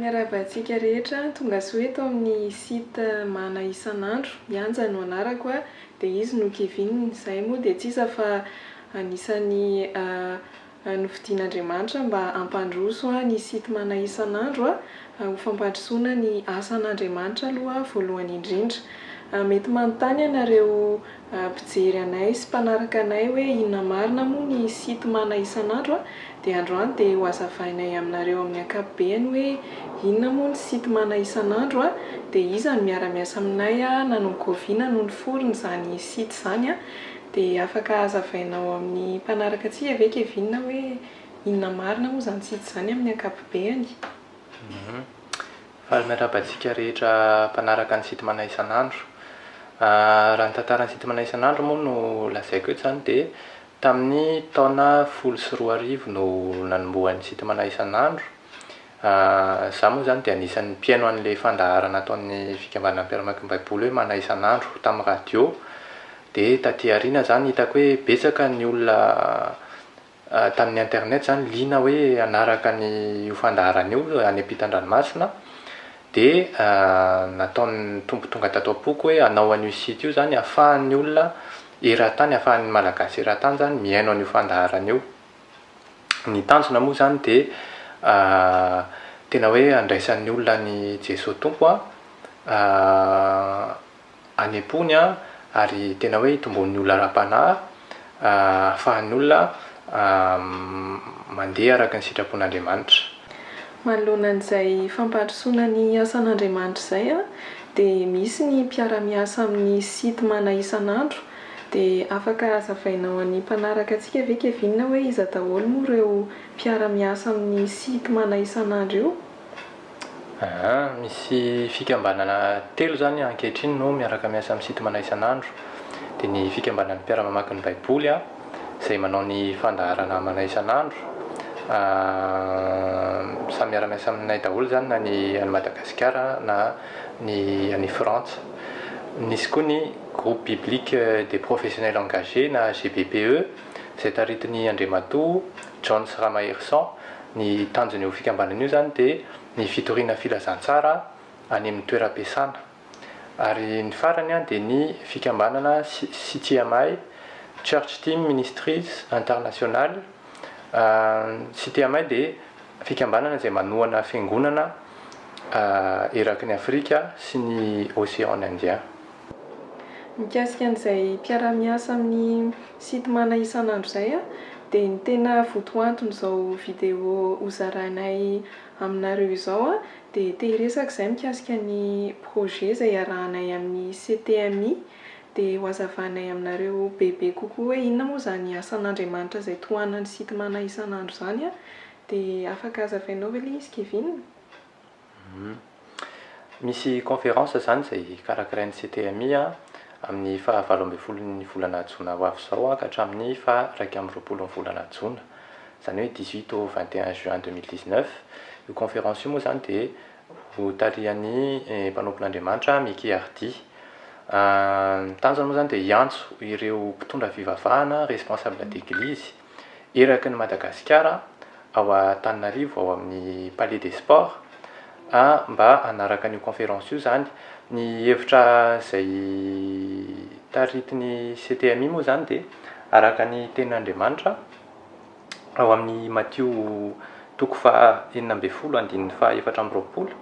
Miarahaba antsika rehetra, tongasoa eto amin'ny site Mana isan'andro, Yanja no anarako a, dia izy no Kevin, izahay moa dia tsy iza fa anisan'ny nofidian'Andriamanitra mba hampandroso ny site Mana isan'andro ho fampandrosoana ny asan'Andriamanitra aloha voalohany indrindra. Mety manontany ianareo mpijery anay sy mpanaraka anay hoe inona marina moa ny site mana isan'andro a! dia androany dia ho azavainay aminareo amin'ny ankapobeny hoe inona moa ny site mana isan'andro a! dia iza no miara-miasa aminay a! nanongoviana no niforona izany site izany a! dia afaka hazavainao amin'ny mpanaraka antsika ve Kevin hoe inona marina moa izany site izany amin'ny ankapobeny? Faly miarahaba antsika rehetra mpanaraka ny Sitmana isan'andro. Raha ny tantaran'ny Sitmana isan'andro moa no lazaiko eto izany dia tamin'ny taona folo sy roa arivo no nanombohan'ny Sitmana isan'andro. Izaho moa izany dia anisan'ny mpihaino an'ilay fandaharana ataon'ny Fikambanana Mpiara-mamaky ny Baiboly hoe Mana isan'andro tamin'ny radio. Dia tatỳ aoriana izany hitako hoe betsaka ny olona tamin'ny internet izany liana hoe hanaraka an'io fandaharana io any ampitan-dranomasina dia nataon'ny Tompo tonga tato am-poko hoe hanao an'io site io izany ahafahan'ny olona eran-tany, ahafahan'ny Malagasy eran-tany izany mihaino an'io fandaharana io. Ny tanjona moa izany dia tena hoe handraisan'ny olona an'i Jesoa Tompo an, any am-pony ary tena hoe itomboan'ny olona ara-panahy, ahafahan'ny olona mandeha araka ny sitrapon'Andriamanitra. Manoloana an'izay fampandrosoana ny asan'Andriamanitra izay dia misy ny mpiara-miasa amin'ny site mana isan'andro dia afaka hazavainao an'ny mpanaraka antsika ve Kevin hoe iza daholo moa ireo mpiara-miasa amin'ny site mana isan'andro io? Aa, misy fikambanana telo izany ankehitriny no miaraka miasa amin'ny Sitmana isan'andro. Dia ny Fikambanan'ny Mpiara-mamaky ny Baiboly, izay manao ny fandaharana amanay isan'andro. Samy miara-miasa aminay daholo izany na ny any Madagasikara na ny any Frantsa. Nisy koa ny Groupe Biblique des Professionnels Engagés na GBPE, izay taritin'ny Andriamatoa Johns Ramaherison, Ny tanjona io fikambanana io izany dia ny fitoriana filazantsara any amin'ny toeram-piasana. Ary ny farany dia ny fikambanana CTMI, Church Team Ministries International. CTMI dia fikambanana izay manohana fiangonana eraky ny Afrika sy ny Océan Indien. Mikasika an'izay mpiara-miasa amin'ny Sitmana isan'andro izay dia ny tena votoanton'izao vidéo hozarainay aminareo izao dia te hiresaka izahay mikasika ny projet izay iarahanay amin'ny CTMI dia hohazavainay aminareo bebe kokoa hoe inona moa izany asan'Andriamanitra izay tohanan'ny Sitmana isan'andro izany dia afaka hazavainao ve ilay izy Kevin? Misy conférence izany izay karakarain'ny CTMI amin'ny faha valo ambin'ny folon'ny volana jona ho avy izao ka hatramin'ny faha iraika amby roapolon'ny volana jona, izany hoe dix huit au vingt et un juin deux mille dix neuf. Io conférence io moa izany dia hotarihan'ny mpanompon'Andriamanitra Micky Hardy. Ny tanjona moa izany dia hiantso ireo mpitondra fivavahana, responsables d'église, eraky ny Madagasikara ao Antananarivo ao amin'ny Palais des Sports a, mba hanaraka an'io conférence io izany. Ny hevitra izay taritin'ny CTMI moa izany dia araka ny tenin'Andriamanitra ao amin'ny Matio toko faha enina ambin'ny folo andininy faha efatra amby roapolo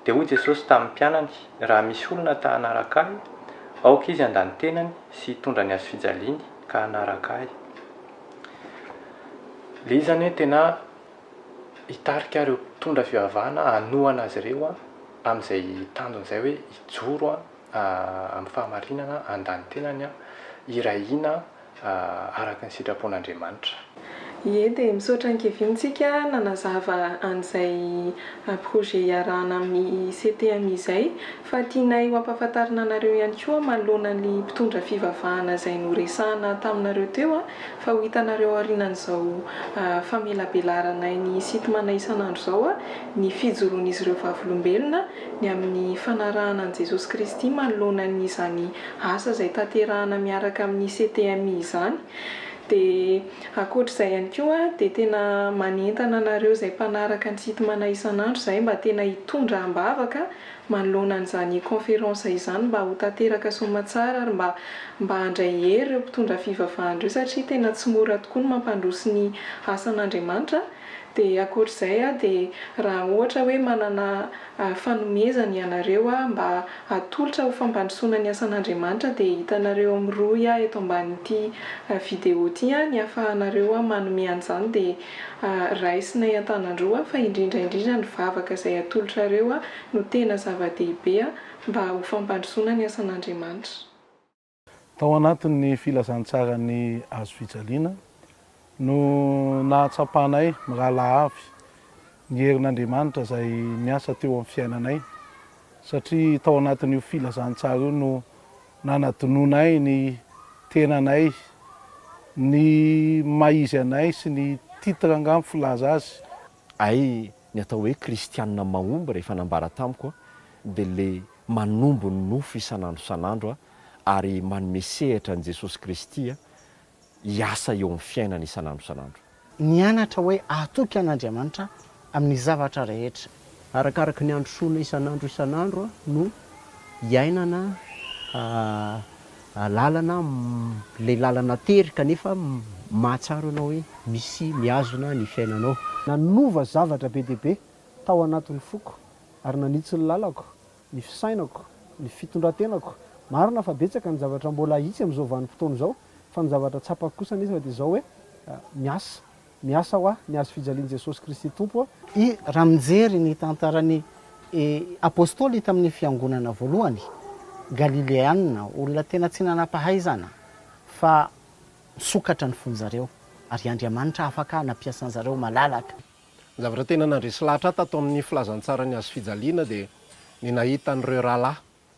dia hoy Jesosy tamin'ny mpianany, raha misy olona ta hanaraka ahy, aoka izy handany tenany sy hitondra ny hazofijaliany. ka hanaraka ahy. Le izy zany hoe tena hitarika ireo mpitondra fivavahana hanohana azy ireo amin'izay tanjony izay hoe hijoro amin'ny fahamarinana, handany tenany, hiray hina araka ny sitrapon'Andriamanitra. Ie dia misaotra an'i Kevin tsika nanazava an'izay projet iarahana amin'ny CTM izay fa tianay ho ampahafantarina anareo ihany koa manoloana ny mpitondra fivavahana izay noresahana taminareo teo fa ho hitanareo aorianan'izao famelabelaranay ny sitmana isan'andro izao ny fijoroan'izy ireo vavolombelona ny amin'ny fanarahana an'i Jesosy Kristy manoloana ny izany asa izay tanterahana miaraka amin'ny CTM izany Dia ankoatra izay ihany koa dia tena manentana anareo izay mpanaraka ny Sitmana isan'andro izahay mba tena hitondra am-bavaka manoloana an'izany conférence izany mba ho tanteraka soamatsara ary mba mba handray hery ireo mpitondra fivavahana ireo satria tena tsy mora tokoa ny mampandroso ny asan'Andriamanitra dia ankoatra izay aho dia raha ohatra hoe manana ary fanomezany ianareo aho mba hatolotra ho fampandrosoana ny asan'Andriamanitra dia hitanareo amin'ny rohy aho eto ambanin'ity video ity ny hahafahanareo aho manome an'izany dia raisinay an-tanan-droa fa indrindra indrindra ny vavaka izay atolotrareo no tena zava-dehibe mba ho fampandrosoana ny asan'Andriamanitra. Tao anatin'ny filazantsaran'ny hazofijaliana no nahatsapanay mirahalahy avy ny herin'Andriamanitra izay miasa teo amin'ny fiainanay, satria tao anatin'io filazantsara io no nanadinoanay ny tenanay, ny maha izy anay sy ny titre angaha ny filaza azy. Hay ny atao hoe kristianina mahomby rehefa nambara tamiko a dia le manombo ny nofo isan'andro isan'andro a ary manome sehatra an'i Jesosy Kristy a hiasa eo amin'ny fiainany isan'andro isan'andro. Nianatra hoe hatoky an'Andriamanitra amin'ny zavatra rehetra. Arakaraky ny androsoana isan'andro isan'andro a no iainana a. lalana ilay lalana tery kanefa mahatsaro anao hoe misy mihazona ny fiainanao. Nanova zavatra be dia be tao anatin'ny foko ary nanitsy ny lalako, ny fisainako, ny fitondran-tenako. Marina fa betsaka ny zavatra mbola hahitsy amin'izao vanim-potoana izao fa ny zavatra tsapako kosa anefa dia izao hoe miasa. Miasa ho ahy ny hazo fijalian'i Jesosy Kristy Tompo a! I Raha mijery ny tantaran'ny Apostoly tamin'ny fiangonana voalohany, Galileana, olona tena tsy nanam-pahaizana, fa misokatra ny fon'zareo, ary Andriamanitra afaka nampiasa an'zareo malalaka. Ny zavatra tena nandresy lahatra ahy tato amin'ny filazantsaran'ny hazo fijaliana dia ny nahita an'ireo rahalahy